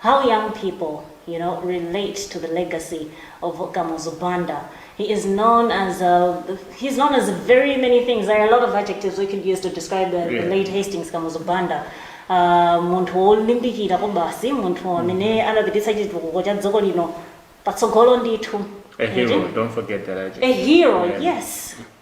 How young people you know relate to the legacy of Kamuzu Banda. He is known as a, he's known as very many things. There are a lot of adjectives we could use to describe the, yeah. the late Hastings Kamuzu Banda. Uh, munthu wolimbikira kwabasi munthu mm-hmm. amene anapititsa chitukuko cha dziko lino patsogolo ndithu a hero don't forget that adjective. a hero yeah. yes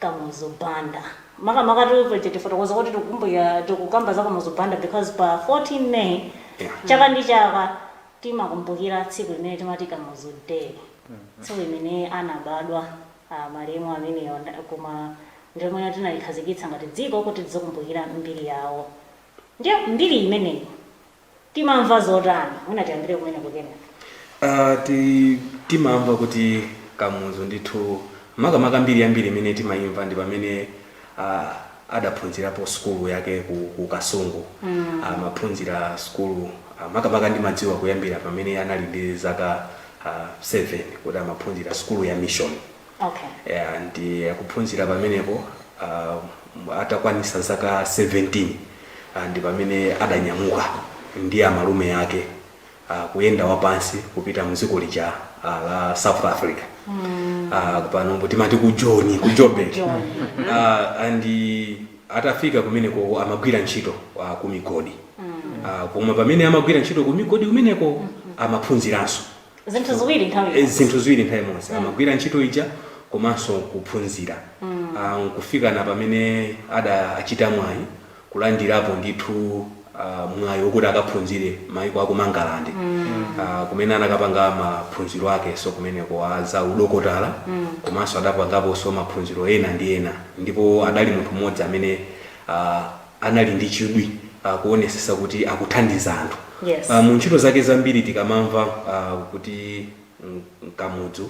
Kamuzu Banda. Makamaka tiyeni tifotokoze kuti tikukamba za Kamuzu Banda because pa 14 May chaka ndi chaka timakumbukira tsiku limene timati Kamuzu Day. Tsiku limene anabadwa ah, malemu amenewa koma ndi lomwe tinalikhazikitsa ngati dziko kuti tidzikumbukira mbiri yawo. Ndiye mbiri imeneyi timamva zotani? Mwina tiyambire kumeneko kenako. Ah, ti, timamva kuti Kamuzu ndithu makamaka mbiri yambiri imene timayimva ndi pamene ah, adaphunzirapo sukulu yake ku, ku Kasungu mm. amaphunzira sukulu ah, makamaka ndimadziwa kuyambira pamene anali ndi zaka ah, 7 kuti amaphunzira sukulu ya mission Okay. yeah, and akuphunzira pamenepo uh, atakwanisa zaka 17 uh, ndi pamene adanyamuka ndi amalume ake uh, kuyenda wapansi kupita mdziko lija uh, la South Africa mm. uh, pano timati ku Joni ku Joburg Joburg. uh, and uh, atafika kumeneko amagwira ntchito uh, ku migodi uh, koma pamene amagwira ntchito ku migodi kumeneko amaphunziranso zinthu ziwiri nthawi Eh, imodzi. zinthu ziwiri nthawi imodzi amagwira ntchito ija komanso kuphunzira Ah, nkufika na pamene adachita mwayi kulandirapo ndithu ah, mwayi wokuti akaphunzire maiko a ku Mangalande Ah, kumene anakapanga maphunziro akenso kumeneko a za udokotala komanso adapangaponso maphunziro ena ndi ena ndipo adali munthu mmodzi amene ah, anali ndi chidwi uh, kuonesesa kuti akuthandiza anthu yes. uh, mu ntchito zake zambiri tikamamva uh, kuti Kamuzu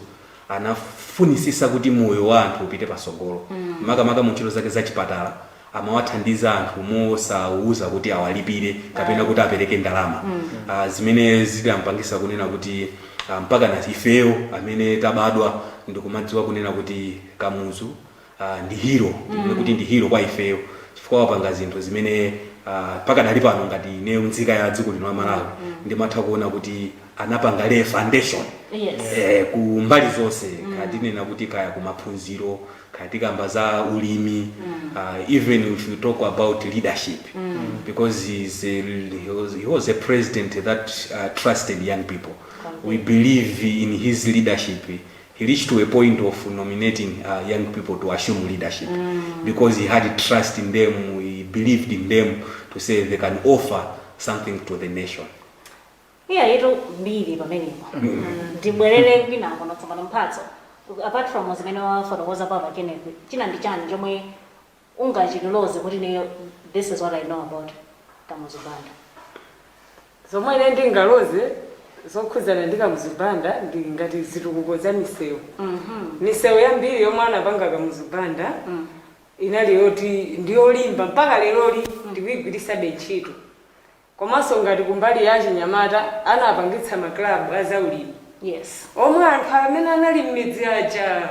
anafunisisa kuti moyo wa anthu upite pasogolo mm. makamaka mu ntchito zake za chipatala amawathandiza anthu mosawauza kuti awalipire kapena kuti apereke ndalama mm. uh, zimene zidampangisa kunena kuti uh, mpaka na ifeyo amene tabadwa ndikumadziwa kunena kuti Kamuzu uh, ndi hero mm. kuti ndi hero kwa ifeyo chifukwa wapanga zinthu zimene uh, pakadali pano ngati ineyo nzika ya dziko lino la Malawi mm. ndimatha kuona kuti anapanga lay foundation Yes. eh, ku mbali zonse mm. kaya tinena kuti kaya ku maphunziro kaya tikamba za ulimi mm. uh, even if you talk about leadership mm. because he's a, he, was, he was a president that uh, trusted young people we believe in his leadership he reached to a point of nominating uh, young people to assume leadership because he had trust in them he believed in them to say they can offer something to the nation eyatu mbiri pamenepo ndibwerere kwa inu tsopano Mphatso apart from zimene wafotokoza apapa Kenneth china ndi chani chomwe ungachitiloze kuti ineyo this is what i know about kamuzu banda. Zomwe ine ndingaloze zokhudzana ndi Kamuzu Banda ndi ngati zitukuko za misewu. Misewu yambiri yomwe anapanga Kamuzu Banda inali yoti ndi yolimba mpaka leroli ndikuigwiritsabe ntchito. Komanso ngati kumbali ya chinyamata anapangitsa maklabu a zaulimi. Yes. Omwe anthu amene anali m'midzi aja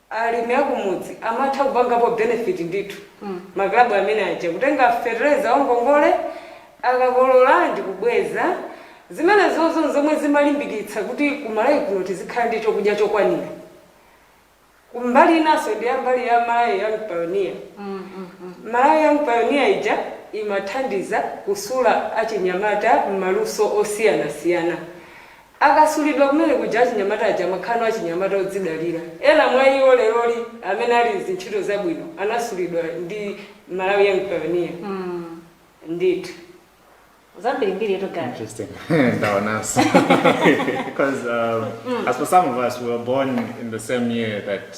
alimi akumudzi amatha kupangapo benefit ndithu maklabu amene aja kutenga fetereza wangongole akakolola ndikubweza zimenezizo ndi zomwe zimalimbikitsa kuti ku Malawi kuno tizikhala ndi chokudya chokwanira ku mbali inanso ndi ya mbali ya Malawi Young Pioneer Malawi Young Pioneer ija imathandiza kusula achinyamata mmaluso osiyanasiyana Akasulidwa kumene kuja achinyamata aja amakhala no achinyamata odzidalira. Ena mwa iwo leroli amene ali m'zintchito zabwino anasulidwa ndi Malawi Young Pioneer ndithu. Zambirimbiritu guy. Interesting. Ndaonanso. Because um, as for some of us, we were born in the same year that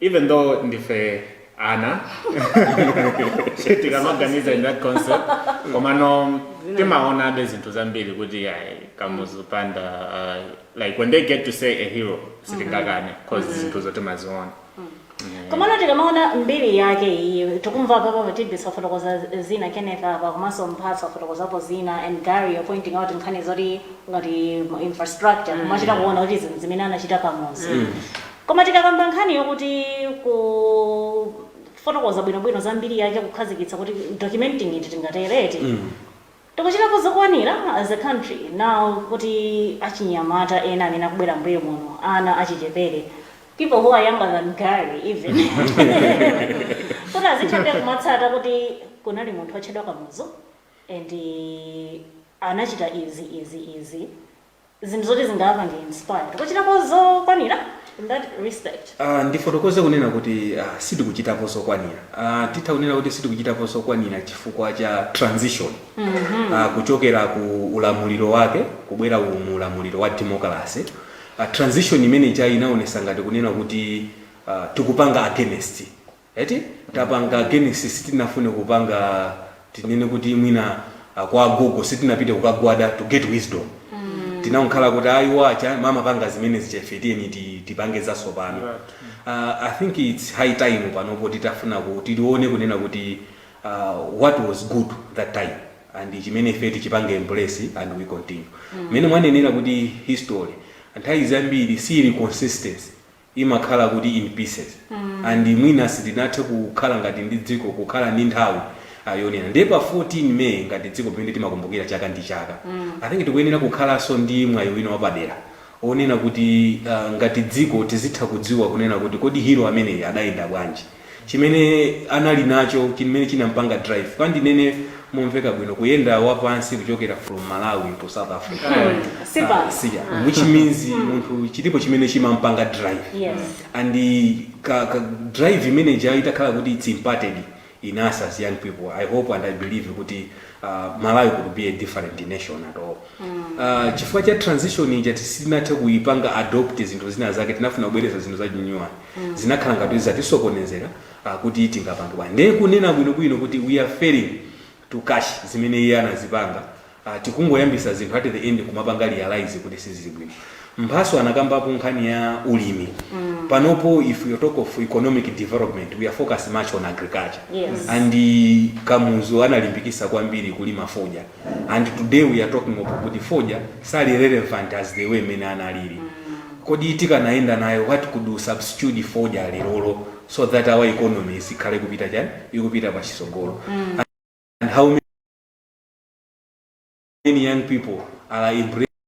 even though ndife ana tikamaganiza in that concept komano timaonabe zinthu zambiri kuti ayi kamuzu banda uh, like when they get to say a hero sitingakane cause zinthuzo timaziona komano tikamaona mbiri yake iyi tikumva apapa atibisa afotokoza zina kenneth apa komanso mphatso afotokozapo zina and gary you're pointing out nkhani zoti ngati infrastructure kumachita kuona kuti zinthu zimene anachita kamuzu Koma tikakamba nkhani yokuti kufotokoza bwinobwino za mbiri yake, kukhazikitsa kuti documenting it tingatero eti, tikuchitapo zokwanira as a country now kuti achinyamata ena amene akubwera m'mbuyo muno, ana achichepere, people who are younger than Gary even, kuti azithabe kumatsata kuti kunali munthu otchedwa Kamuzu and anachita izi, izi, izi. zinthu zoti zingawapange inspired kuchitapo zokwanira in that respect Uh, ndifotokoze kunena kuti uh, sitikuchitapo zokwanira uh, titha kunena kuti sitikuchitapo zokwanira chifukwa cha transition mm-hmm. uh, kuchokera ku ulamuliro wake kubwera ku mu ulamuliro wa democracy uh, transition imene ija inaonesa ngati kunena kuti uh, tikupanga against eti tapanga against sitinafune kupanga tinene kuti mwina ah, kwa agogo sitinapite kukagwada to get wisdom tinangokhala kuti ayi wacha mama panga zimenezi ife tiyeni ti- tipange zatsopano uh, i think its high time panopo titafuna ku- tione kunena kuti uh, what was good that time and chimene ife tichipange embrace and we continue mmene mwanenera kuti history nthawi zambiri sili consistency imakhala kuti in pieces and mwina sitinathe kukhala ngati ndi dziko kukhala ndi nthawi yonena ndiye pa 14 may ngati dziko pamene timakumbukira chaka ndi chaka i think tikuyenera kukhalanso ndi mwayi wina wapadera onena kuti ah, ngati dziko tizitha kudziwa kunena kuti kodi hero ameneyi adayenda bwanji chimene anali nacho chimene chinampanga drive kaya ndinene momveka bwino kuyenda wapansi kuchokera from malawi to south africa Si bad. Ah, siya. which means munthu chilipo chimene chimampanga drive Yes. and the ka, ka drive imene ija itakhala kuti it's imparted in us as young people i hope and i believe kuti uh, malawi could be a different nation at all uh, chifukwa cha transition ija sitinathe kuipanga adopt zinthu zina zake tinafuna kubwereza zinthu za chinyuwani zinakhala ngati kuti zatisokonezera ah, kuti tingapange ndiye kunena bwinobwino kuti we are failing to catch zimene iye anazipanga ah, tikungoyambisa zinthu at the end kumapanga realize kuti sizili bwino mphaso anakambapo nkhani ya ulimi panopo if you talk of economic development we are focused much on agriculture Yes. and kamuzu analimbikisa kwambiri kulima fodya and today we are talking of kuti fodya sali relevant as the way mene analili kodi tikanayenda nayo what could we substitute fodya lerolo so that our economy izikhala ikupita chani ikupita pa chisogolo and how many young people are embracing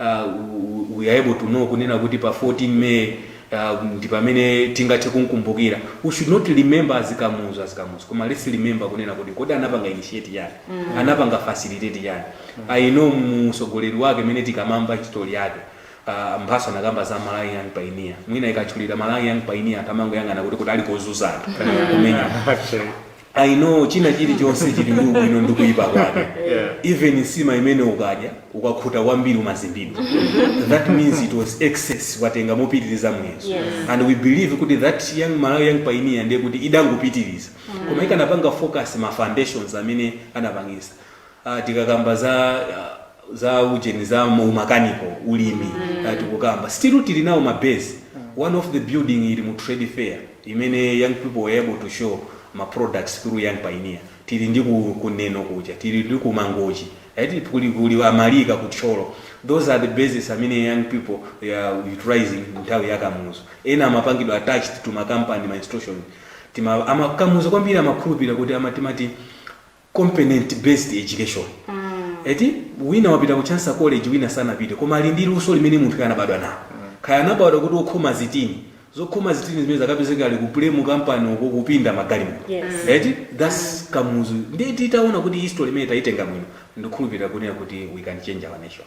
uh, we are able to know kunena kuti pa 14 may uh, ndi pamene tingathe kumkumbukira we should not remember as kamuzu as kamuzu koma let's remember kunena kuti kodi anapanga initiate chani mm. anapanga facilitate chani mm. i know mtsogoleri wake mene tikamakamba history yake uh, mphaso anakamba za malawi young pioneer mwina ikatchulira malawi young pioneer anthu amangoyang'ana kuti kuti ali kozunza anthu kumenya Actually. i know china chilichonse chili ndi ubwino ndi kuyipa kwake even nsima imene ukadya ukakhuta kwambiri umazimbidwa that means it was excess watenga mopitiriza muyezo Yes. and we believe kuti that young malawi young pioneer ndiye kuti idangopitiriza koma ikanapanga focus ma foundations amene anapangisa tikakamba za za ujeni za mu mechanical ulimi ah, tikukamba still tili nawo ma base one of the building ili mu trade fair imene young people were able to show ma products through young pioneer tili ndi ku, ku neno kuja tili ndi ku mangochi right kuli kuli amalika ku thyolo those are the bases amene young people they are utilizing nthawi ya kamuzu ena amapangidwa attached to ma company ma institution kamuzu kwambiri amakhulupirira kuti amatimati competent based education eti wina wapita ku chancellor college wina sanapite koma ali ndi luso limene munthu anabadwa nalo kaya anabadwa kuti okhoma zitini zokhoma zitini zimenezo akapezeka ali ku PEW mu kampani uko kupinda magalimoto Yes. eti thats kamuzu ndiye titaona kuti history imene tayitenga bwino ndikukhulupirira kunena kuti we can change our nation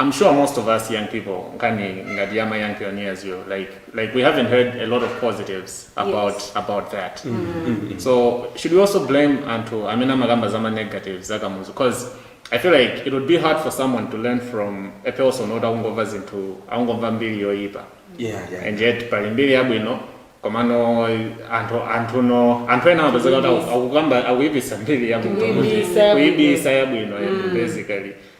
Am sure most of us young people nkhani ngati ya ma young pioneers yo like like we haven't heard a lot of positives about, about that so should we also blame anthu amene amakamba zama negatives za Kamuzu because i feel like it would be hard for someone to learn from a person oti akungomva zinthu akungomva mbiri yoyipa yeah yeah and yet pali mbiri yabwino komano anthu anthu no anthu ena amapezeka kuti aku- akukamba akuyipisa mbiri yabwino Kuibisa yabwino. kuibisa yabwino and basically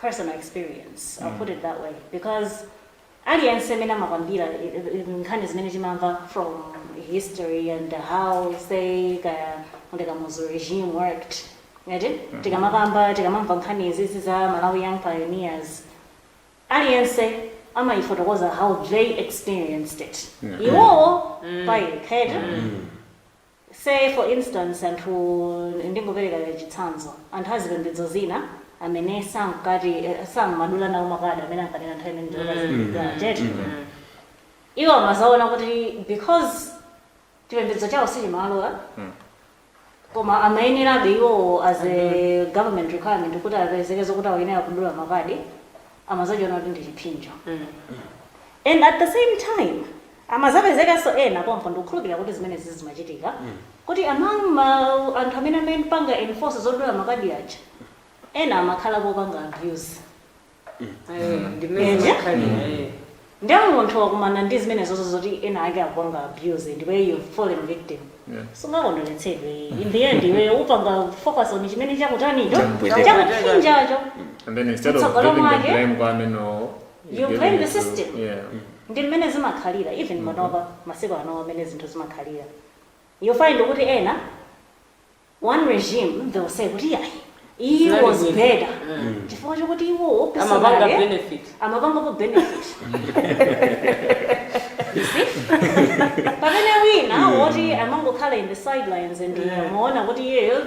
personal experience i'll put it that way because aliyense amene amakamba eh, eh, nkhani zimene timamva from history and how say kaya ndi Kamuzu regime worked ati tikamakamba tikamamva nkhani izizi za malawi young pioneers aliyense amayifotokoza how they experienced it iwowo payekha eti say for instance anthu ndingopereka chitsanzo anthu azipembedzo zina amene sankati samadula nawo makadi amene ankanena nthawi imene ndiokaziaa chete iwo amazaona kuti because chipembedzo chawo sichimalola koma amayenerabe iwowo as a government requirement kuti apezeke zokuti akuyenera kudula makadi amazachiona kuti ndi chiphinjo and at the same time Amazapezekanso ena pompo ndikukhulupilira kuti zimenezi zimachitika kuti among anthu amene amapanga enforce zodula makadi aja ena amakhalapo opanga abuse Eh, ndi mmene Eje? zimakhalira, eh. ndiye munthu wakumana ndi zimenezozo zoti ena ake akupanga abuse ndipo iwe you've fallen victim Yeah. sungakondweretsedwe in the end iwe upanga focus on chimene chakutanicho Chamupweteka. chakupsinjacho And then instead of Mtsogolo giving the mwake. blame kwa amene you blame the system yeah. Mm. ndi mmene zimakhalira even mm-hmm. panopa masiku ano mmene zinthu zimakhalira you find kuti ena one regime they will say kuti ayi iyi was better mm. chifukwa chokuti iwo amapanga benefit amapangapo benefit pamene wina woti amangokhala in the sidelines and amaona kuti iyeyo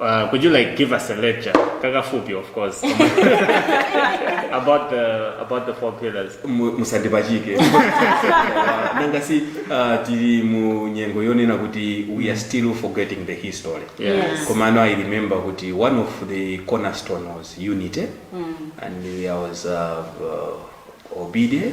Uh, could you like give us a lecture, kakafupi of course, about the about the four pillars? Mu- musandipachike Uh, nanga si uh, tili mu nyengo yonena kuti we are still forgetting the history Yes. koma ano i remember kuti one of the cornerstone was unity and there was uh, uh, obide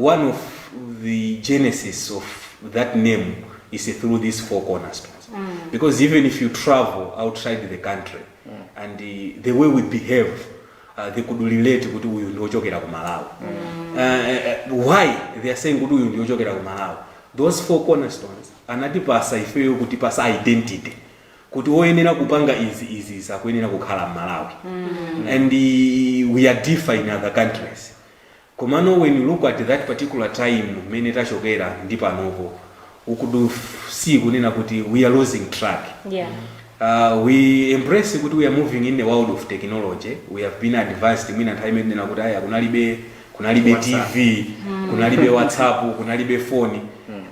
One of the genesis of that name is through these four cornerstones because even if you travel outside the country and uh, the way we behave uh, they could relate kuti uyu ndi ochokera ku malawi uh, uh, why they are saying kuti uyu ndi ochokera ku malawi those four cornerstones anatipatsa ifeyo kutipatsa identity kuti oyenera kupanga izi izi izi akuyenera kukhala mmalawi and uh, we are different in other countries Komano when you look at that particular time mmene tachokera ndi panopo we could see kunena kuti we are losing track. Yeah. Uh, we embrace kuti we are moving in a world of technology we have been advanced mwina nthawi imene tinena kuti aya kunalibe tv kunalibe whatsapp kunalibe phone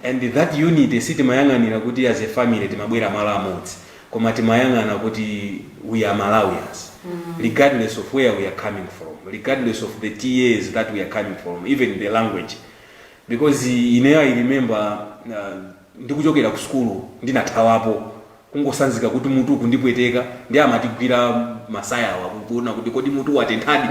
and that unity sitimayang'ana kuti as a family timabwera malo amodzi koma timayang'ana kuti we are malawians regardless of where we are coming from regardless of the TAs that we are coming from even the language because ineyo i remember uh, ndikuchokera ku sukulu ndinathawapo kungosanzika kuti mutu kundipweteka ndi amatigwira masaya awa kuona kuti kodi mutu watenthadi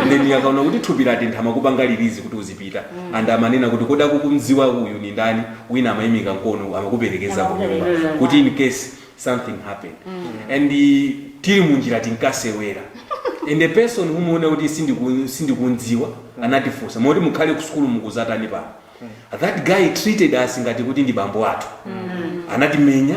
then akaona kuti thupi latentha amakupanga release kuti uzipita and amanena kuti kodi akumudziwa uyu ni ndani wina amaimika mkono amakuperekeza ku nyumba kuti in case something happened and eh, tili munjira tinkasewera and the person womuona kuti sindiku- sindikumdziwa anatifunsa moti mukhale ku sukulu mukudzatani pano that guy treated us ngati kuti ndi bambo athu anatimenya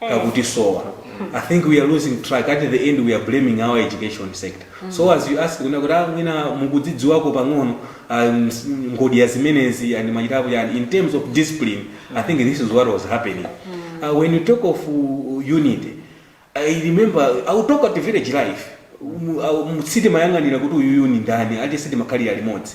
kakutisowa i think we are losing track at the end we are blaming our education sector so as you ask kunena kuti ah, mwina mukudzidziwako pang'ono ah, ms- ngodya zimenezi and machitapo yani in terms of discipline i think this is what was happening uh, when you talk of uh, unity i remember i will talk about village life Mu- ah, mu- sitimayang'ana kuti uyuyu ni ndani ati sitimakhalira limodzi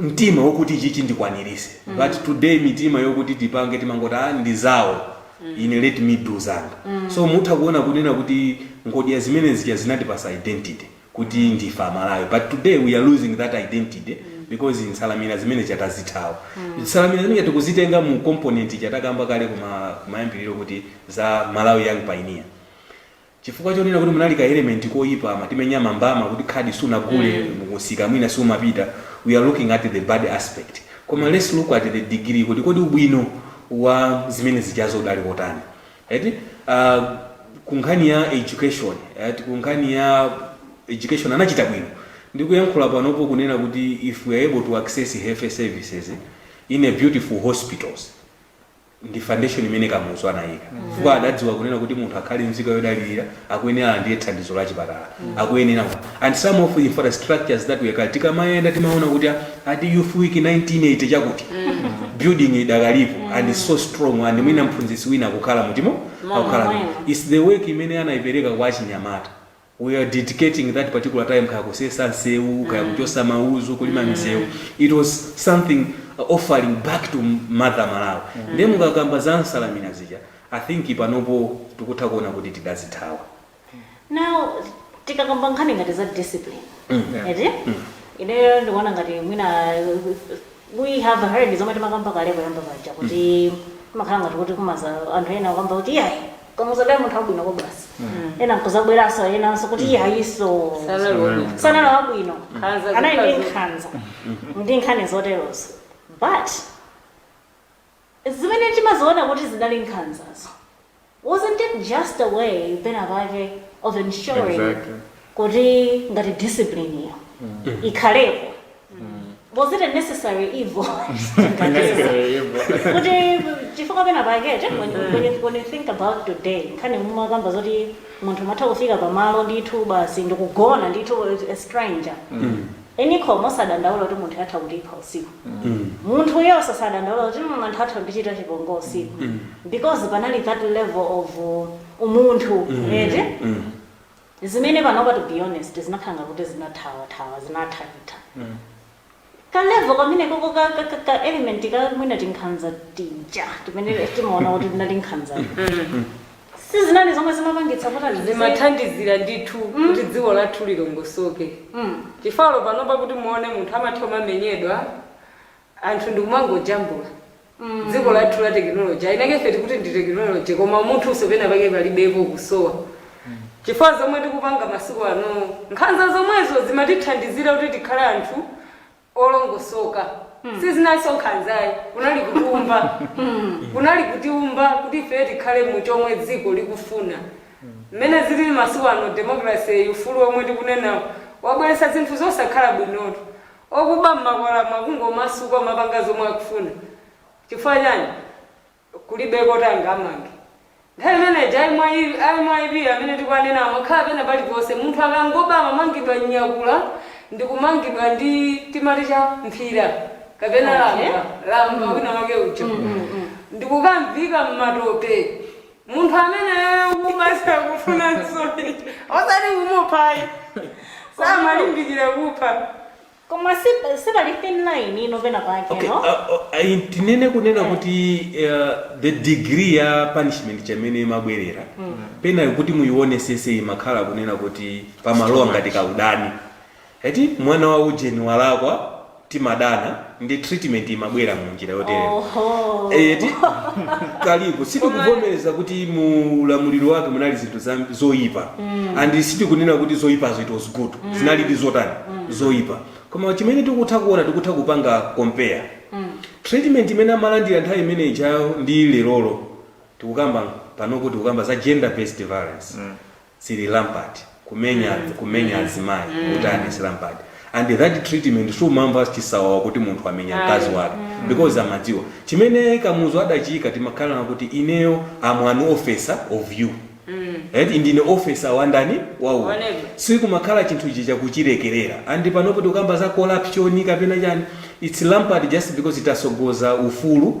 mtima wokuti ichichi ndikwaniritse mm. but today mitima yokuti tipange timangoti a ah, ndi zawo mm. ine let me do zanga mm. so mutha kuona kunena kuti ngodya zimene zija zinatipasa identity kuti ndife amalawi but today we are losing that identity mm because nsanamira zimene zija tazithawa mm. nsanamira zimene tikuzitenga mu component ija takamba kale kuma kumayambiriro kuti za malawi young pioneer Chifukwa chonena kuti munali ka element koyipa amatimenya ma mbama kuti khadi sunagule mu msika mwina sumapita we are looking at the bad aspect koma let's look at the degree kuti kodi ubwino wa zimene zijazo udali kotani eti ah ku nkhani ya education eti ku nkhani ya education anachita bwino ndi kuyankhula panopo kunena kuti if we are able to access health services in a beautiful hospitals ndi foundation imene Kamuzu anayika chifukwa adadziwa kunena kuti munthu akhale nzika yodalirika akuyenera alandire thandizo la chipatala akuyenera and some of the infrastructures that we can tikamayenda timaona kuti ah, ati youth week 1980 chakuti building idakalipo and so strong and mwina mphunzitsi wina akukhala mutimo akukhala mwina. it's the work imene anaipereka kwa achinyamata we are dedicating that particular time kaya kusesa nseu kaya kuchosa mauzu kulima miseu it was something uh, offering back to mother malawi ndiye mukakamba za nsalamina zija i think panopo tikutha kuona kuti tidazithawa now tikakamba nkhani ngati za discipline eti ineyo ndikuona ngati mwina we have heard zomwe timakamba kale poyamba paja kuti timakhala ngati kuti kumaza anthu ena nkukamba kuti iyayi Kamuzu adali munthu wabwino kobasi ena nkuzabweranso enanso kuti iyayinso sanali wabwino anali ndi nkhanza ndi nkhani zoterozo but zimene timaziona kuti zinali nkhanzazo wasn't it just a way pena pake of ensuring Exactly. kuti ngati discipline iyo ikhalepo was it a necessary evil kuti chifukwa pena pake che, when, when, you- when you think about today nkhani mumakamba zoti munthu matha kufika pamalo ndithu basi ndikugona ndithu a stranger enikho mosadandaula kuti munthu atha kutilipa usiku munthu uyo osadandaula kuti "Mm, anthu atha kundichita chipongo usiku because panali that level of uh, umunthu eti Zimene panopa to be honest zinakhala ngati kuti zinathawa thawa, zinathaitha. Ka level kamenekoko ka ka ka ka element ka mwina tinkhanza tija timene timaona kuti tinali nkhanzatu. Sizinali zomwe zimapangitsa kuti anthu tizi- zimathandizira ndithu kuti dziko lathu lilongosoke Mm. chifukwa panopa kuti muone munthu amatha kumamenyedwa anthu ndikumangojambula dziko lathu la technology ainake ife tikuti ndi technology koma umunthunso pena pake palibepo kusowa chifukwa zomwe tikupanga masiku ano nkhanza zomwezo zimatithandizira kuti tikhale anthu olongosoka sizinalinso nkhanza ayi kunali kutiumba kunali kutiumba kuti ife tikhale mu chomwe dziko likufuna mmene zilili masiku ano democracy ufulu omwe tikunenawo wabweretsa zinthu zosakhala bwinotu Okuba mmakwalamu akungomasuka kumapanga zomwe akufuna chifukwa chani? kulibe oti angawamange. Nthawi imene ija a myp amene tikuwanena amakhala pena paliponse munthu akangoba amamangidwa kunyakula ndikumangidwa ndi timati cha? mphira kapena lamba lamba wina wake ujo ndikukamviika mmatope. munthu ameneyo kumatha kumva nsoni osati kumupha ayi samalimbikira kupha koma si- sipali thin line ino pena pake okay no uh, uh, ayi tinene kunena kuti uh, the degree ya punishment chimene imabwerera pena kuti muyionetsetse imakhala kunena kuti pamalowa ngati kaudani Eti mwana wa ujeni walakwa timadana ndi treatment imabwera mu njira yotere. Oho. Eti kalipo sitikuvomereza kuti mu ulamuliro wake munali zinthu za- zoyipa and sitikunena kuti zoyipazo it was good zinali ndi zotani zoyipa koma chimene tikutha kuona tikutha kupanga compare treatment imene amalandira nthawi imene ijayo ndi lerolo tikukamba panopo tikukamba za gender based violence sili rampant kumenya kumenya azimayi utani si rampant and that treatment sumamva chisawawa kuti munthu amenya Ayi. mkazi wake because amadziwa chimene kamuzu adachiika timakhala nakuti ineyo am an officer of you eti ndine officer wandani wa muneba. sikumakhala chinthu ichi chakuchilekerera and panopo tikukamba za corruption kapena chani it's rampant just because titatsogoza ufulu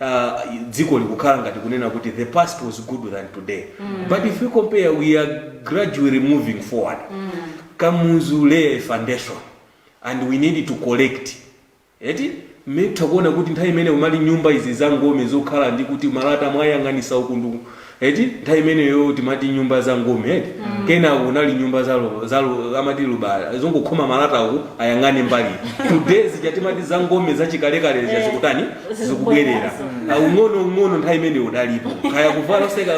uh, dziko likukhala ngati kunena kuti the past was good than today mm. but if we compare we are gradually moving forward mm. kamuzu lay a foundation and we need to correct eti mutha kuona kuti nthawi imene umali nyumba izi za ngome zokhala ndi kuti malata mwayang'anisa uku ndi uku eti nthawi imeneyo timati nyumba za ngome eti kenako kunali nyumba za lu- za lu- amati lubala zongokhoma malata uku ayang'ane mbali today zija tinkati za ngome zachikalekale zija Eh, zikutani zikubwera. zikubwerera Ah, ung'ono ung'ono nthawi imeneyo udalipo kaya kuvala oseka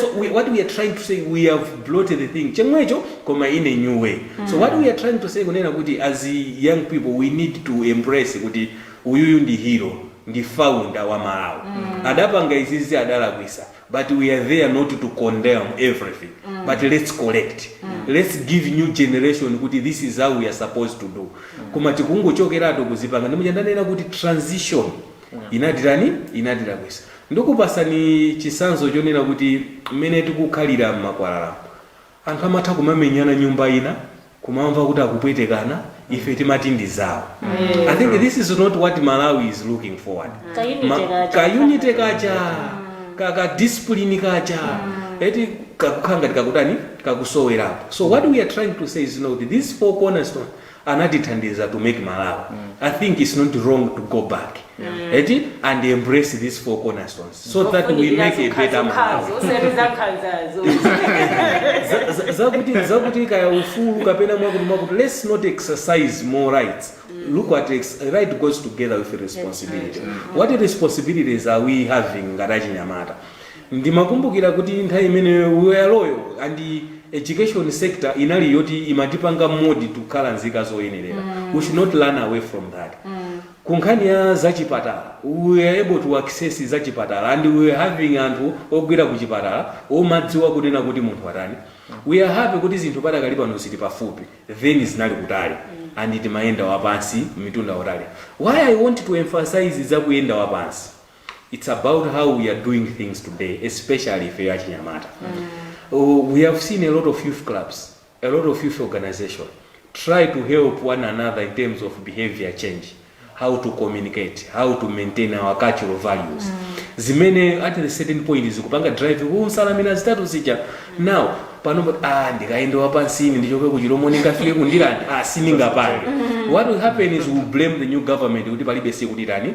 so we, what we are trying to say we have brought the thing chomwecho koma in a new way so what we are trying to say kunena kuti as young people we need to embrace kuti Uyuyu ndi hero ndi founder wa Malawi adapanga izizi adalakwisa but we are there not to condemn everything but let's correct let's give new generation kuti this is how we are supposed to do koma tikungochokeratu kuzipanga ndi muja ndanena kuti transition inatitani inatilakwisa ndikupasani chisanzo chonena kuti mmene tikukhalira mmakwalalamu Anthu amatha kumamenyana nyumba ina kumamva kuti akupwetekana ife timati ndi zawo. I think this is not what Malawi is looking forward. Ka unity Ma- kaja. ka unity kaja ka, ka discipline kaja eti kakukhala ngati kakutani kakusowerapo so what we are trying to say is you know, that these four cornerstones anatithandiza to make malawi I think it's not wrong to go back eti and embrace these four cornerstones so that we make a better malawi Za- za- zakuti zakuti kaya ufulu kapena mwakuti mwakuti let's not exercise more rights look at ex- right goes together with responsibility what responsibilities are we having ngati achinyamata Ndimakumbukira kuti nthawi imeneyo we were loyal and education sector inali yoti imatipanga mold tikhale nzika zoyenerera we should not run away from that. Ku nkhani ya za chipatala we were able to access za chipatala and we were having anthu ogwira ku chipatala omadziwa kunena kuti munthu watani. We are happy kuti zinthu padakali pano zili pafupi then zinali kutali and timayenda wapansi mitunda yatali. Why I want to emphasize za kuyenda wapansi. Its about how we are doing things today especially ifeyo achinyamata Uh, we have seen a lot of youth clubs a lot of youth organization try to help one another in terms of behavior change how to communicate how to maintain our cultural values zimene at a certain point zikupanga drive kunsalamira zitatu zija now pano but, ah ndikaenda wapansini ndichoke kuchilomo ndingafike kundilanda ah sindingapange what will happen is we blame the new government kuti palibe sikuti tani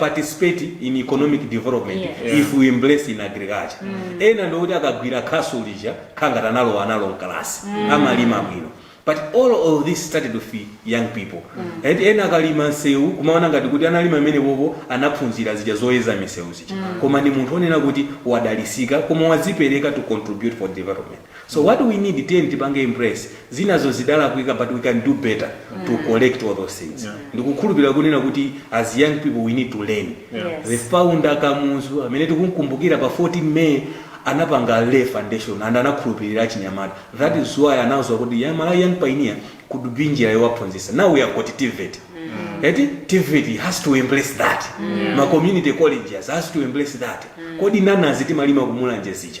participate in economic development Yeah. if we embrace in agriculture ena ndikuti akagwira khasu lija kukhala ngati analowa nalo mkalasi amalima bwino but all of this started with young people and ena akalima msewu kumaona ngati kuti analima mmene bobo anaphunzira zija zoyeza misewu zija koma ndi munthu onena kuti wadalisika koma wadzipereka to contribute for development so mm. what we need tiyeni tipange embrace zinazo zidalakwika but we can do better mm. to correct all those things yeah. ndikukhulupirira kunena kuti as young people we need to learn yeah. yes. the founder kamuzu amene tikumkumbukira pa 14 may anapanga lay foundation and anakhulupirira achinyamata that is why anawuzwa kuti ya Malawi young pioneer could be njira yowaphunzisa now we have got tevet mm. eti tevet has to embrace that mm. ma community colleges has to embrace that mm. kodi nanazi timalima kumulanje zija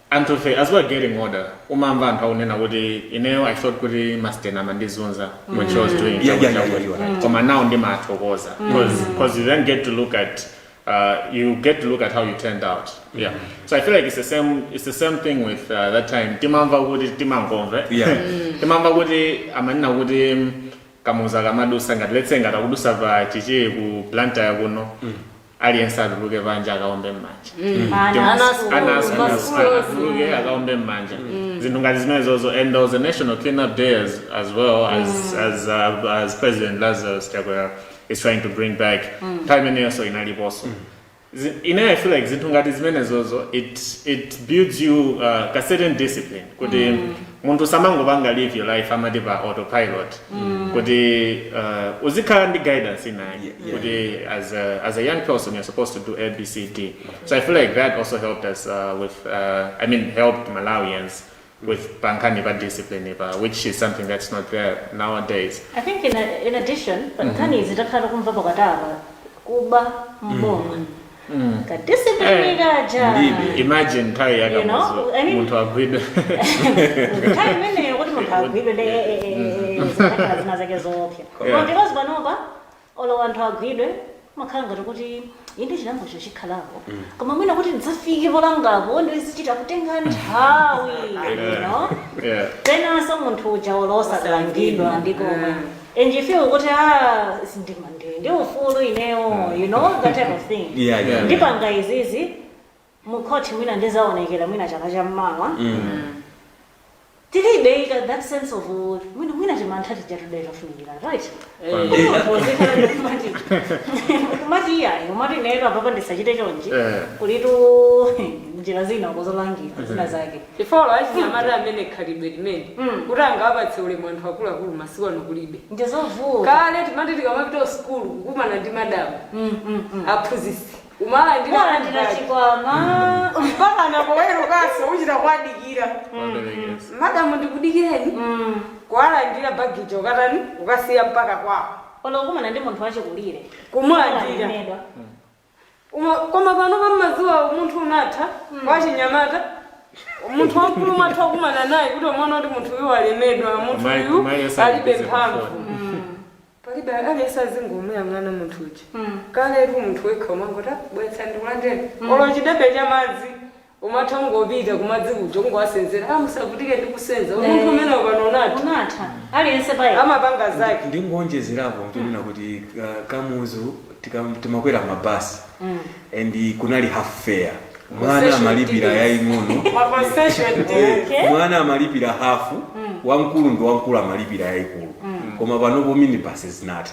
And ife as we're getting older umamva anthu akunena kuti ineyo I thought kuti masteni amandizunza when she was doing Yeah, yeah, yeah, yeah, you are right. koma now ndimathokoza because you then get to look at uh, you get to look at how you turned out yeah so I feel like it's the same it's the same thing with uh, that time timamva kuti timangomve Yeah. timamva kuti amanena kuti mm, kamuzu akamadusa ngati let's say ngati akudusa pa chichiri ku Blantyre kuno aliyense atuluke panja akaombe m'manja Ana Ana asukulu, ana asukulu, masukulu. ana atuluke akaombe m'manja zinthu ngati zimenezozo and there was a national cleanup day as, as well as, as, uh, as president lazarus chakwera is trying to bring back nthawi imeneyonso inaliponso Zi- ine i feel like zinthu ngati zimenezozo it, it builds you uh, a certain discipline kuti munthu samangopanga live your life amati pa autopilot kuti uh, uzikhala ndi guidance ina yake Yeah, yeah. kuti as a, as a young person you're supposed to do abcd so i feel like that also helped us uh, with uh, i mean helped malawians with pankhani pa discipline pa which is something that's not there nowadays I think in, in addition, pankhani izi takhala kumva za katapa kuba m'boma ka discipline kaja Ndidi. imagine nthawi You know, I ya kamuzu mean- munthu agwidwe nthawi imeneyo kuti munthu agwidwe ndi eh, eh, eh, eh, zikanakhala zina zake zoopsa Yeah. koma because panopa olo anthu agwidwe makhala ngati kuti inde chilangocho chikhalapo koma mwina kuti adzafike polangapo ndi zichita kutenga nthawi you know yeah penanso munthu uja olo osalangidwa nkomwe and you feel kuti ah si ndi ndi- ndi ufulu inewo you know that type of thing Yeah, yeah. ndipanga izizi mukhoti mwina ndizaonekera mwina chaka cha mmawa tilibe ita that sense of uh, mwina mwina timantha tijatu timafunikira right kumati iyayi kumati ineyo apopa ndisachite chonji Eh. kulitu njira zina kuzolangira zina zake Chifukwa olo achinyamata amene khalidwe limeneli kuti angawapatse ulemu anthu akuluakulu masiku ano kulibe. Ndizovuta. Kale timati tikamapita ku sukulu kukumana ndi madam, aphunzitsi, umawalandira Mumawalandira bag. chikwama. Mpakana powerukanso uchita kuwadikira. Waperekeza. Madam ndikudikireni? Kuwalandira bag ija kukatani? Kukasiya mpaka kwawo. Olo kukumana ndi munthu wachikulire. Kumulandira. Amalemedwa. Koma, koma panopo mmadziwa umunthu unatha wa achinyamata munthu wamkulu matha kukumana naye kuti umaona kuti munthu uyu walemedwa munthu Mai- uyu mai eyeza alibe alipize mphamvu mafoni. palibe aliyense azingomuyang'ana munthu uja kaletu munthu wekha umangoti bwetsa ndikulandireni olo chidebe cha madzi umatha kungopita kumadzi kuja kungowasenzera ah musavutike ndi kusenza umunthu Eh. umenewo pano unatha Unatha. Aliyense pa yekha. amapanga Ndi- zake ndingonjezerapo chonena kuti uh, kamuzu tika- timakwera mabasi and kunali half fare mwana Concession amalipira tickets. yaying'ono ma concession Eh, ticket. Okay. mwana amalipira hafu wamkulu ndi wamkulu amalipira yayikulu koma panopo minibasi zinatha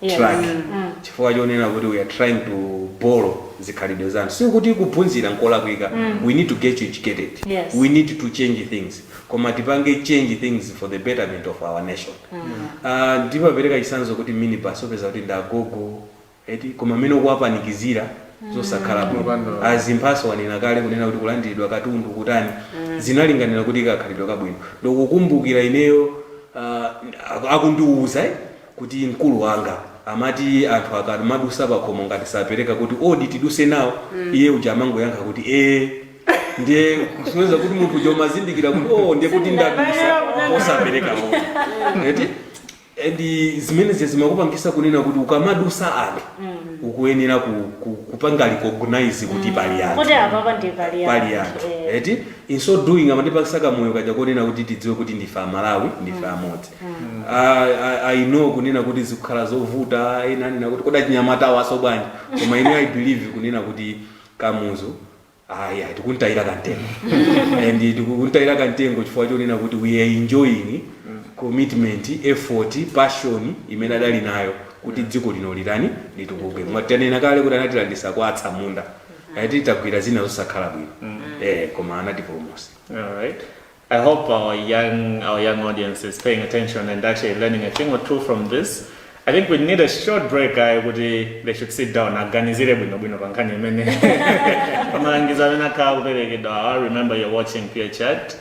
Yeah. track Mm. chifukwa chonena kuti we are trying to borrow zikhalidwe za anthu sikuti kuphunzira nkolakwika we need to get educated Yes. we need to change things koma tipange change things for the betterment of our nation Ah, ndimapereka chisanzo kuti minibus upeza kuti ndagogo eti koma mmene ukuwapanikizira zosakhala bwino Kupandula. a Zimbaso anena kale kunena kuti kulandiridwa katundu kutani zimalinganira kuti kakhalidwe kabwino ndikukumbukira ineyo ah, akundiuza eh, kuti mkulu wanga amati anthu akamadusa pakhomo ngati sapereka kuti odi tiduse nawo iye uja amangoyankha kuti ee ndiye kusonyeza kuti munthu uja umazindikira kuti o ndiye kuti ndadusa osapereka odi eti and zimenezi zimakupangisa kunena kuti ukamadusa anthu ukuyenera ku, ku, kupanga recognize kuti pali anthu kuti apa ndi pali pali anthu eti in so doing amatipasa kamoyo kaja konena kuti tidziwe kuti ndife aMalawi ndife amodzi i know kunena kuti zikukhala zovuta ena anena kuti kodi achinyamata awaso bwanji koma ine i believe kunena kuti kamuzu ayi ayi tikuntayira kantengo and tikuntayira kantengo chifukwa chonena kuti we are enjoying commitment effort passion imene adali nayo kuti dziko lino litani litukuke mwanena kale kuti anatilandisa kwa atsamunda atitagwira zina zosakhala bwino eh koma anatipulumusa Alright. I hope our young, our young audience is paying attention and actually learning a thing or two from this. I think we need a short break ayi kuti they should sit down aganizire bwino bwino pa nkhani imene pamalangizo amene akhala kuperekedwa awa remember you're watching pure chat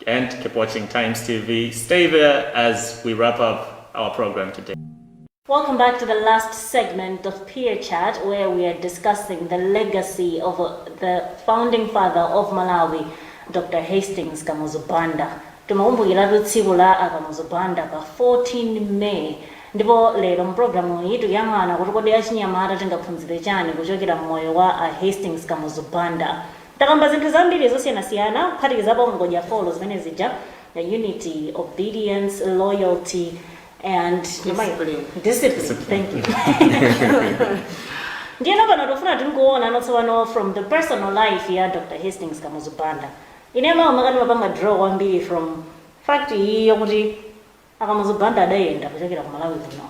and keep watching times tv stay there as we wrap up our program today Welcome back to the last segment of Peer Chat, where we are discussing the legacy of uh, the founding father of Malawi, Dr. Hastings Kamuzu Banda. Timakumbukiratu tsiku la a Kamuzu Banda pa 14 May. Ndipo lero mu programu iyi tikuyang'ana kuti kodi achinyamata tingaphunzire chani kuchokera mmoyo wa a Hastings Kamuzu Banda. Takamba zinthu zambiri zosiyanasiyana kuphatikizapo ngodya folo zimene zija the unity, obedience, loyalty, and Discipline. discipline. Discipline. Thank you. ndiyeno pano tofuna tingoona notsopano from the personal life ya dr hastings kamuzu banda ine ndimakonda ndimapanga draw kwambiri from fact iyi yokuti akamuzu banda adayenda kuchokera ku malawi kuno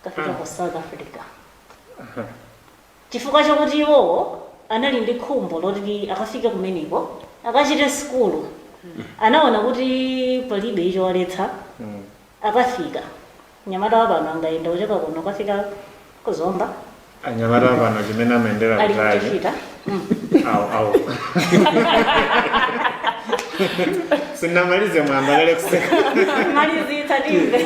kafika ku south africa Chifukwa chakuti iwowo anali ndi khumbo loti akafike kumeneko, akachite sukulu, anaona kuti palibe chowaletsa. Akafika, mnyamata wa pano angayenda kuchoka kuno kukafika ku Zomba? Anyamata apano chimene amayendera Ali kutali. kuchifita. Mm. Awo, awo. Sindinamalize mwayamba kale kuseka. Malizitsa timve.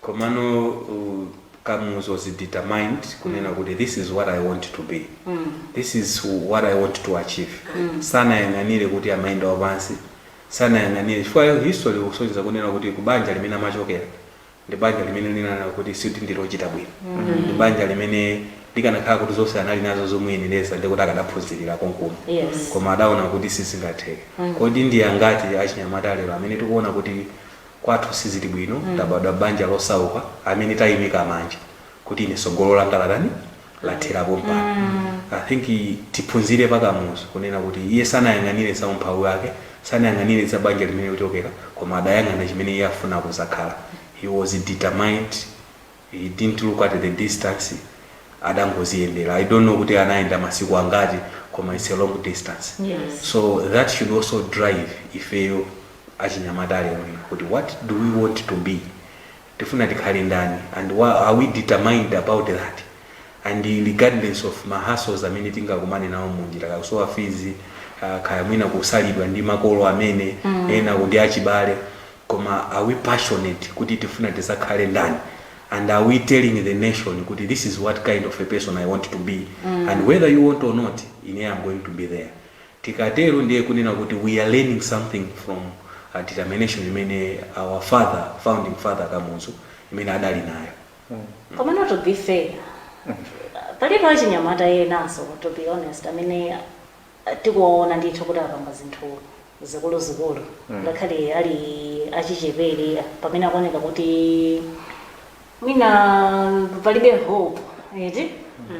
Komano u Kamuzu was determined kunena kuti this is what I want to be. This is what I want to achieve. Sanayang'anire kuti amayenda wapansi. Sanayang'anire chifukwa history ikusonyeza kunena kuti kubanja limene amachokera ndi banja limene lonena kuti sikuti ndi lochita bwino. Ndi banja limene likanakhala kuti zonse anali nazo zomuyenereza ndi kuti akadaphunzirira konkuno. Yes. Koma adaona kuti sizingatheke. Kodi ndi angati achinyamata lero amene tikuona kuti kwathu sizili bwino mm. tabadwa banja losauka amene tayimika manja kuti ine sogolo langa latani lathera pompano mm. i think tiphunzire pa Kamuzu kunena kuti iye sanayang'anire za umphawi wake sanayang'anire za banja limene akuchokera koma adayang'ana chimene iye afuna kuzakhala he was determined He didn't look at the distance adangoziyendera I don't know kuti anayenda masiku angati koma it's a long distance Yes. so that should also drive ifeyo achinyamata alerolino kuti what do we want to be tifuna tikhale ndani and wa- are we determined about that and regardless of ma hustles amene tingakumane nawo munjira kaya kusowa fees uh, kaya mwina kusalidwa ndi makolo amayenera kuti achibale Koma are we passionate kuti tifuna tizakhale ndani and are we telling the nation kuti this is what kind of a person I want to be and whether you want or not ine I'm going to be there. Tikatero ndiye kunena kuti we are learning something from a determination imene our father founding father Kamuzu imene adali nayo. koma not to be fair alipo achinyamata enanso to be honest amene tikuwaona ndithu kuti apanga zinthu zikuluzikulu ngakhale ali achichepere pamene akuoneka kuti mwina palibe hope eti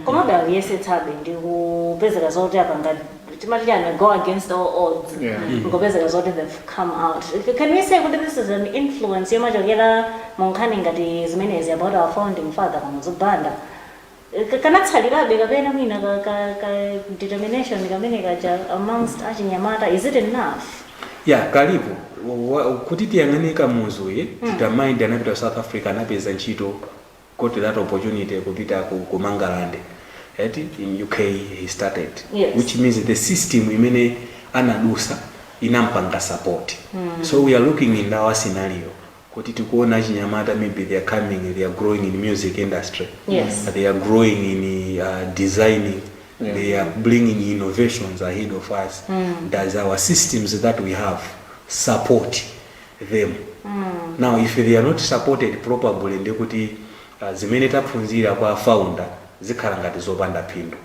komabe akuyesetsabe ndi kupezeka zoti apanga timati chani go against all odds Yeah. nkupezeka zoti they've come out can we say kuti this is an influence yomachokera mu nkhani ngati zimenezi about our founding father Kamuzu Banda kanatsalirabe kapena mwina ka, ka, ka determination kamene kaja amongst achinyamata is it enough ya kalipo Wa- wa- kuti tiyang'ane Kamuzuyo determined anapita ku south africa anapeza ntchito got that opportunity kupita ku, ku mangalande eti in uk he studied Yes. which means the system imene anadusa inampanga support so we are looking in our scenario kuti tikuona achinyamata maybe they are coming they are growing in music industry Yes. they are growing in uh, designing they are bringing innovations ahead of us does our systems that we have support them now if they are not supported properly ndi kuti uh, zimene taphunzira kwa founder zikhala ngati zopanda phindu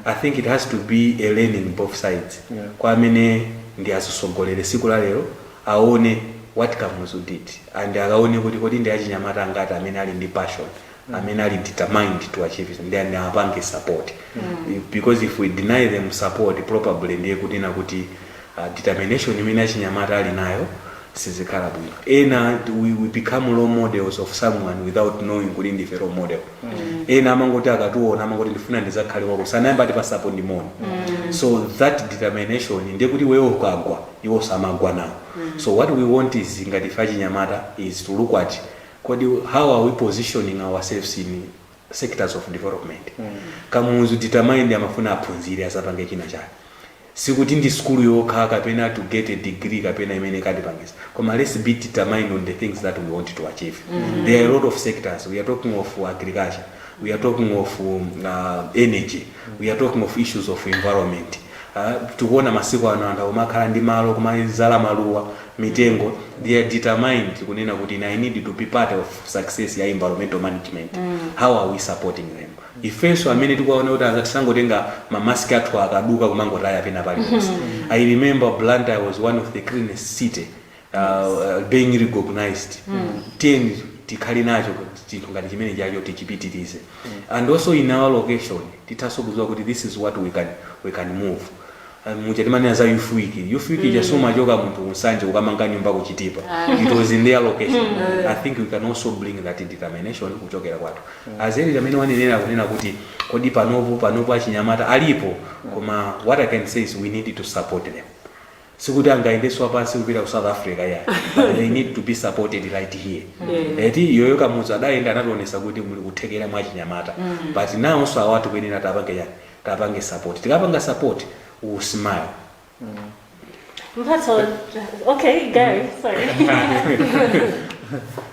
i think it has to be a learning both sides Yeah. kwa amene ndi azisogolere siku la lero aone what Kamuzu did and akaone kuti kodi ndi achinyamata angati amene ali ndi passion amene ali determined to achieve it, then apange support If- because if we deny them support probably ndiye kuti na kuti uh, determination imene achinyamata ali nayo sizikhala bwino ena we, we become role models of someone without knowing kuti ndife role model ena amangoti akatiwona amangoti ndifuna ndizakhale ngati awo koma sanayambe atipatsapo ndi moni so that determination ndiye kuti iweyo ukagwa iwonso amagwa nawo so what we want is ngati ife achinyamata is to look at kodi how are we positioning ourselves in sectors of development kamuzu determined amafuna aphunzire azapange china chake sikuti ndi skulu yokha kapena to get a degree kapena imene ikutipangisa koma let's be determined on the things that we want to achieve there are a lot of sectors we are talking of agriculture we are talking of um, uh, energy we are talking of issues of environment uh, tikuona masiku ano anthu akumakhala ndi malo kumazala maluwa mitengo they are determined kunena kuti i need to be part of success ya environmental management how are we supporting them ifenso amene tikuwaona kuti aza tisangotenga mamaski athu akaduka kumangotaya pena paliponse i remember blantyre was one of the cleanest city uh, being recognized tiyeni tikhale nacho chinthu ngati chimene chacho tichipitirize and also in our location tithanso kuziwa kuti this is what we can, we can move Um, muja timanena za youth week youth week ija samachoka munthu ku Nsanje kukamanga nyumba ku Chitipa it was in their location i think we can also bring that determination kuchokera kwathu as eti mmene wanenera kunena kuti kodi panopo panopo achinyamata alipo koma what i can say is we need to support them sikuti angayendenso wapansi kupita ku south africa ya but they need to be supported right here eti yoyo Kamuzu adayenda anationetsa kuti muli kuthekera mwa chinyamata but nawonso awatu akuyenera tipange chani tapange support tikapanga support we will smile Mphatso, okay, Gary, sorry.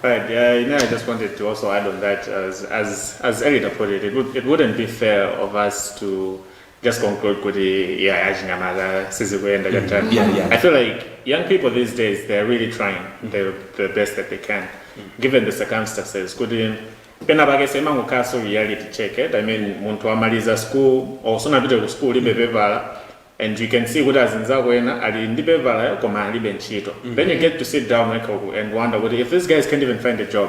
Right. Yeah, you know, I just wanted to also add on that, as as as Elita put it, it would it wouldn't be fair of us to just conclude kuti yeah achinyamata sizikuyenda chapter Yeah, yeah. i feel like young people these days they are really trying the, the best that they can given the circumstances kuti pena pake semangokhala so reality check it i mean munthu amaliza school or sunapite ku school libe pepala and you can see kuti azinzako ena ali ndi pepala koma alibe ntchito then you get to sit down wekha uku and wonder kuti if these guys can't even find a job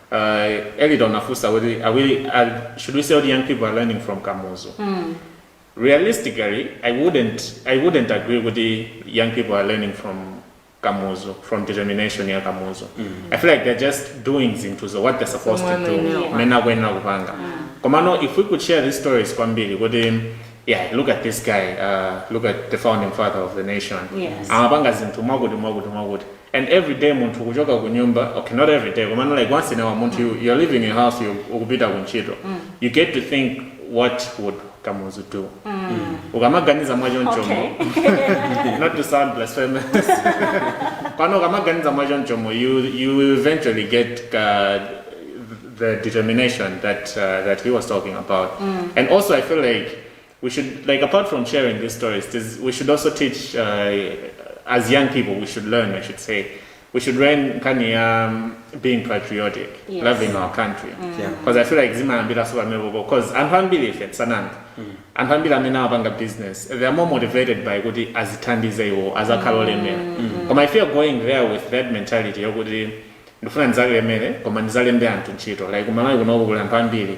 uh, Elita unafunsa kuti are we, are, should we say kuti young people are learning from kamuzu realistically i wouldn't i wouldn't agree kuti young people are learning from kamuzu from determination ya kamuzu i feel like they're just doing zinthu zo what they're supposed to Zomwe do anayenera kupanga. mmene akuyenera kupanga komano if we could share these stories kwambiri kuti yeah look at this guy uh, look at the founding father of the nation Yes. amapanga zinthu mwakuti mwakuti mwakuti and everyday munthu kuchoka kunyumba ok not everyday komano like once in a while munthu mm. you're leaving your house you ukupita kuntchito mm. you get to think what would kamuzu do mm. ukamaganiza mwachonchomo okay. not to sound blasphemous pano ukamaganiza mwachonchomo you, you eventually get uh, the determination that uh, that he was talking about mm. and also i feel like we should like apart from sharing these stories this, we should also teach uh, as young people we should learn i should say we should learn nkhani ya um, being patriotic Yes. loving our country Yeah. because i feel like zimayambiranso pamenepopo because anthu ambiri ife tisananga anthu ambiri amene amapanga business they are more motivated by kuti azithandize iwo azakhale olemera koma if you're going there with that mentality yokuti ndifuna ndizalemere koma ndizalembe anthu ntchito like kumalawi kunoko kuli anthu ambiri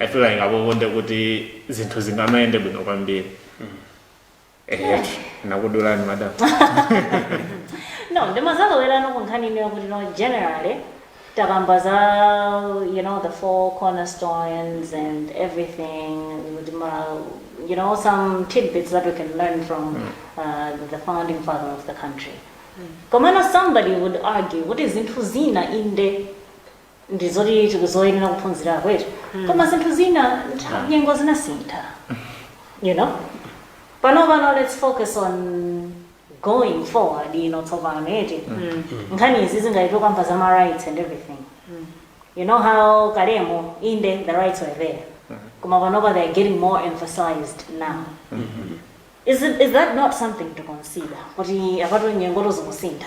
i feel like apopo nde kuti zinthu zingamayende bwino kwambiri ehe nakudulani madam no ndimazalowerano ku nkhani ina yakuti no generally takamba za you know the four cornerstones and everything kuti ma you know some tidbits that we can learn from uh, the founding father of the country komano somebody would argue kuti zinthu zina inde ndi zoti tikuyenera kuphunzirako eti koma zinthu zina ntha- nyengo zinasintha you know pano pano let's focus on going forward you know tsopano eti nkhani izi zangati takamba za ma rights and everything you know how kalemo inde the rights were there koma panopa they are getting more emphasized now is, it, is that not something to consider kuti apatu nyengotu zikusintha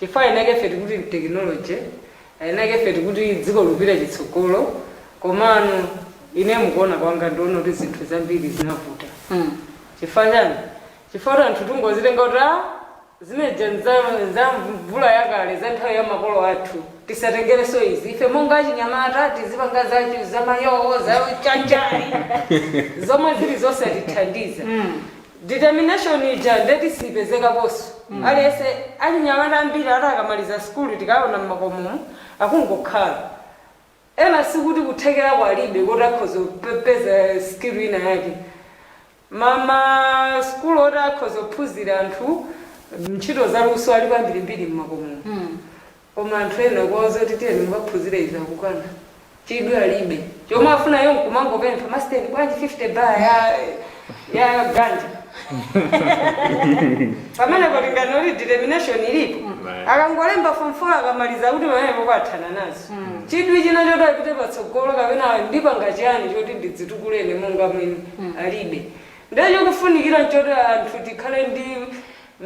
Chifukwa enake ife tikuti ndi technology, enake ife tikuti dziko likupita chitsogolo, komano ine mukuona kwanga ndikuona kuti zinthu zambiri zinavuta. Chifukwa chani? Chifukwa kuti anthu tingozitenga kuti a zimene zija nza nza mvula yakale, za nthawi ya makolo athu, tisatengerenso izi. Ife monga achinyamata tizipanga za za mayoo, za chanjali, zomwe zili zosatithandiza. Determination ija nde siipezekaponso. Aliyense, achinyamata ambiri ati akamaliza sukulu tikawaona mmakomomu akungokhala. Ena sikuti kuthekeraku alibe kuti akhoza kupeza skill ina yake. Ma ma sukulu oti akhoza kuphunzira anthu ntchito za luso alipo ambirimbiri mmakomomu. Koma anthu ena ukawauza kuti tiyeni mukaphunzire izi akukana. Chidwi alibe. Chomwe afuna iwo nkumangopempha, Masteni bwanji 50 bar ya ya ganja? Pamene kulingana kuti determination ilipo. Right. Akangolemba form 4 akamaliza kuti pamenepo kwathana nazo. Chidwi china choti apite patsogolo kapena ndipanga chiyani choti ndidzitukule ine monga mwini alibe. Ndiye chikufunikira nchoti anthu tikhale ndi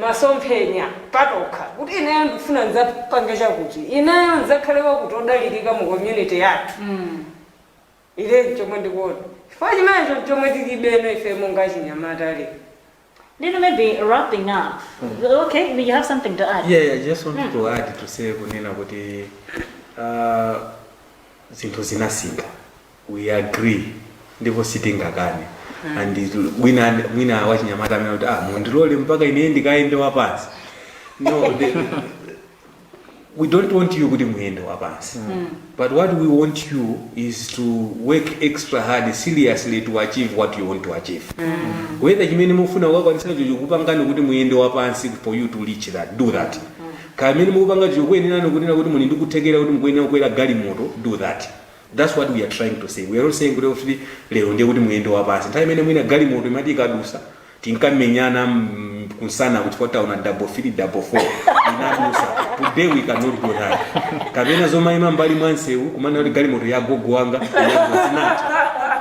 masomphenya patokha, kuti ineyo ndikufuna ndidzapange chakuti, ineyo ndidzakhale wakuti wodalirika mu community yathu. Ine nchomwe ndikuona, chifukwa chimenecho nchomwe tilibeno ifeyo monga achinyamata lero. Ndiyeno maybe wrapping up, okay, you have something to add? Yeah, I just wanted to add to say kunena kuti uh, zinthu zinasintha we agree ndipo sitingakane and wina mwina wachinyamata anene kuti ah mundilole mpaka ine ndikayende wapansi no the, we don't want you kuti muyende wapansi but what we want you is to work extra hard seriously to achieve what you want to achieve whether chimene mufuna kukakwanisa icho chikupangitsani kuti muyende wapansi for you to reach that do that kaya mmene mukupanga chikukuyenerani kunena kuti muli ndi kuthekera kuti mukuyenera kukwera galimoto do that That's what we are trying to say, we are not saying kuti kuti lero ndiye kuti muyende wapansi. Nthawi imene mwina galimoto imati ikadusa tinkamenyana mm, kunsana chifukwa taona double three double four inadusa. Today we cannot do that. Kapena zomayima mbali mwa nsewu kumanena kuti galimoto ya gogo wanga inadusa sinati.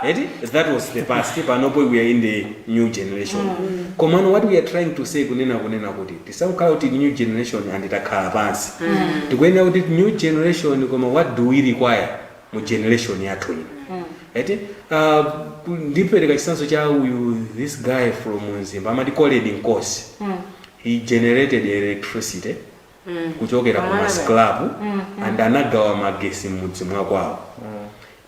Eti? That was the past. Panopo we are in the new generation. Komano what we are trying to say kunena kunena kuti Tisakhale kuti new generation and takhala pansi tikuyenera kuti new generation koma what do we require mu generation yathu ino eti uh, ndipereka chisanzo cha uyu this guy from Mzimba amati Colrerd Nkosi he generated electricity kuchokera ku ma scrap and anagawa magesi m'mudzi mwakwawo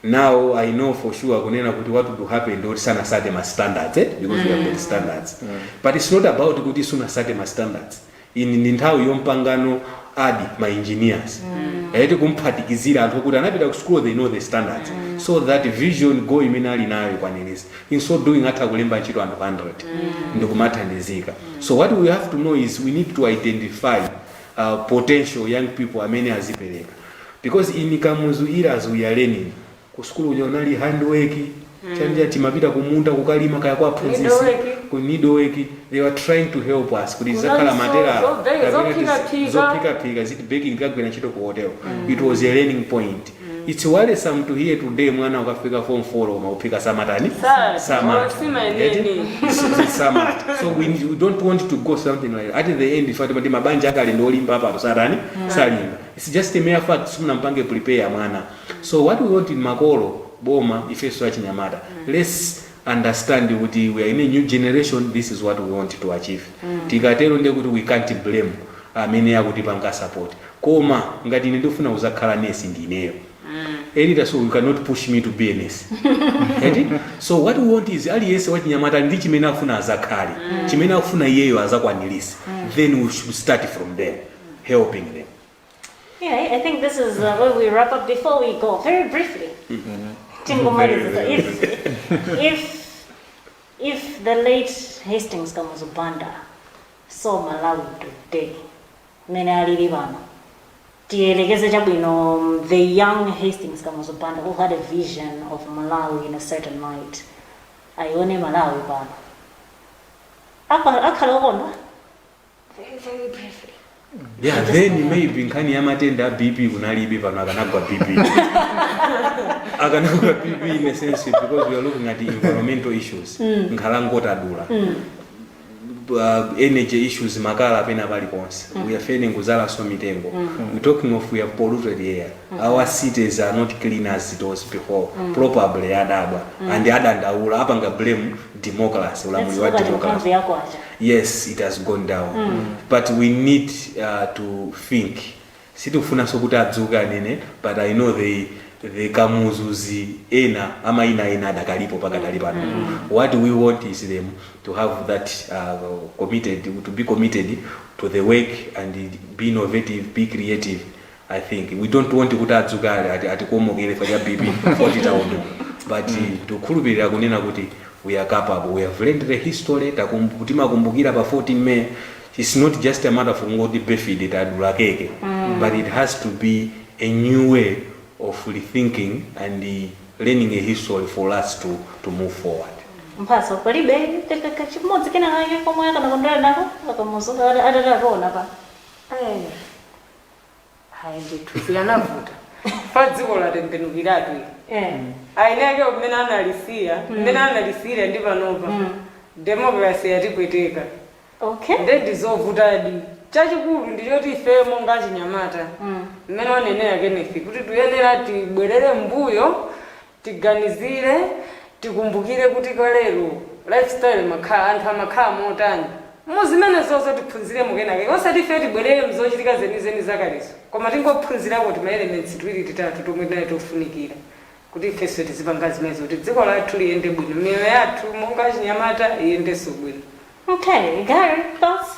now i know for sure kunena kuti what would happen adzati sanasate ma standards eh? because we have got standards but it's not about kuti sunasate ma standards ini ndi nthawi yompanga now add ma engineers eti kumphatikizira anthu okuti anapita ku school they know the standards so that vision yo imene ali nayo ikwanirisike in so doing atha kulemba ntchito anthu 100 ndikumathandizika so what we have to know is we need to identify uh, potential young people amene azipereka Because in Kamuzu era we were learning ku sukulu kuja kunali hand work mm. panja timapita kumunda kukalima kaya kwa aphunzisi ku needle work they were trying to help us kuti uzakhale ma tailor zophika phika ziti baking ukagwira ntchito ku hotel mm. it was a learning point mm. it's worrisome to hear today mwana wafika form 4 koma kuphika samatani samatha samatha so we, we don't want to go something like that. at the end tifika poti mabanja akale ndi olimba apano satani mm. salimba Its just a mere fact simunampange prepare mwana so what we want in makolo, boma, ifeso achinyamata lets understand kuti we are in a new generation this is what we want to achieve tikatero ndiye kuti we can't blame amene akutipanga support koma ngati ine ndikufuna kuzakhala nesi ndi ineyo Edita so you cannot push me to be a nurse Eti? so what we want is aliyense wachinyamata ali ndi chimene akufuna azakhale chimene akufuna iyeyo azakwanilise then we should start from there helping them. Yeah, I think this is uh, where we wrap up. Before we go, very briefly, mm-hmm. if, if, if the late Hastings Kamuzu Banda saw Malawi today, mmene alili pano tiyelekeze chabwino um, the young hastings kamuzu banda who had a vision of malawi in a certain light ayione malawi pano akhala okondwa yeah then maybe nkhani ya matenda a bp kunalibe pano akanagwa bp akanagwa bp in a sense because we are looking at environmental issues nkhalango tadula uh, energy issues makala pena pali ponse we are failing kuzalanso mitengo we talking of we have polluted air our cities are not clean as it was before probably adabwa and adandaula apanga blame democracy ulamuli wa democracy yako acha yes it has gone down mm. but we need uh, to think sitikufunanso kuti adzuke anene but i know they the kamuzuzi ena amaina ena adakalipo pakadali pano mm. what we want is them to have that uh, committed to be committed to the work and be innovative be creative I think we don't want kuti adzuke atikomokere cha BP poti taonongeka but tikukhulupirira kunena kuti we are capable we have learned the history takum- timakumbukira pa 14 May it's not just a matter of kungoti birthday tadula keke but it has to be a new way of rethinking and uh, learning a history for us to, to move forward mphatso palibe kakaka chimodzi kena kake komwe akanakondwera nako a Kamuzu atatiwona pa Eh, Hayi ndithu zikanavuta. Pa dziko latembenukiratu ili. Eh. Eni ake mmene analisiya, mmene analisiyira ndi panopa. Democracy yatipweteka. Okay. Nde ndizovutadi. Chachikulu ndi choti ifeyo monga achinyamata. Mmene wanenera Kenneth kuti tuyenera tibwerere mbuyo tiganizire tikumbukire kuti kalero lifestyle imakhala anthu amakhala motani muzimenezozo tiphunziremo kenakake osati ifeyo tibwerere mzochitika zenizeni zakalezo koma tingophunzirako tima elements tiwiri titatu tomwe tinali tofunikira kuti ifenso tizipanga zimenezo kuti dziko lathu liyende bwino miyoyo yathu monga achinyamata iyendenso bwino. Okay, you got it, boss.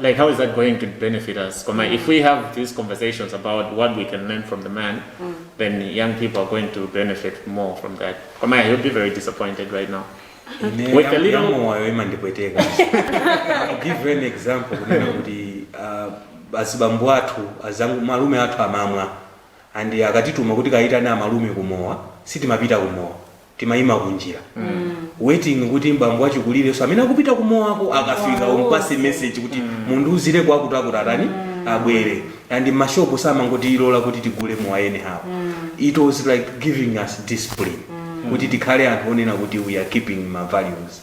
like how is that going to benefit us koma mm. if we have these conversations about what we can learn from the man mm. then young people are going to benefit more from that koma yeah, he'll be very disappointed right now with a little moyo imandipweteka I'll give you an example kunena kuti uh, azibambo athu azangu malume athu amamwa and akatituma kuti kayitane amalume kumowa sitimapita kumowa timayima kunjira waiting kuti bambo wachikulirenso amene akupita kumowako akafika umpase message kuti mundiuzire kwa akutiakuti atani abwere and mmashopu samangotilola kuti tigule mowa anyhow it was like giving us discipline kuti tikhale anthu onena kuti we are keeping ma values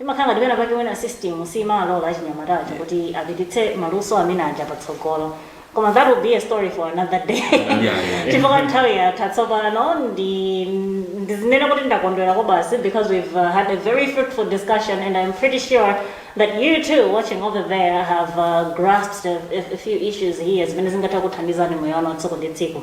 Imakhala ngati pena pake mwina system simalora achinyamata aja kuti apititse maluso amene aja patsogolo. Koma that will be a story for another day. Chifukwa nthawi yatha tsopano ndi ndizinene kuti ndakondwera kobasi because we've uh, had a very fruitful discussion and I'm pretty sure that you too watching over there have uh, grasped a, a, a few issues here zimene zingatha kuthandizani moyo wanu wa tsiku ndi tsiku.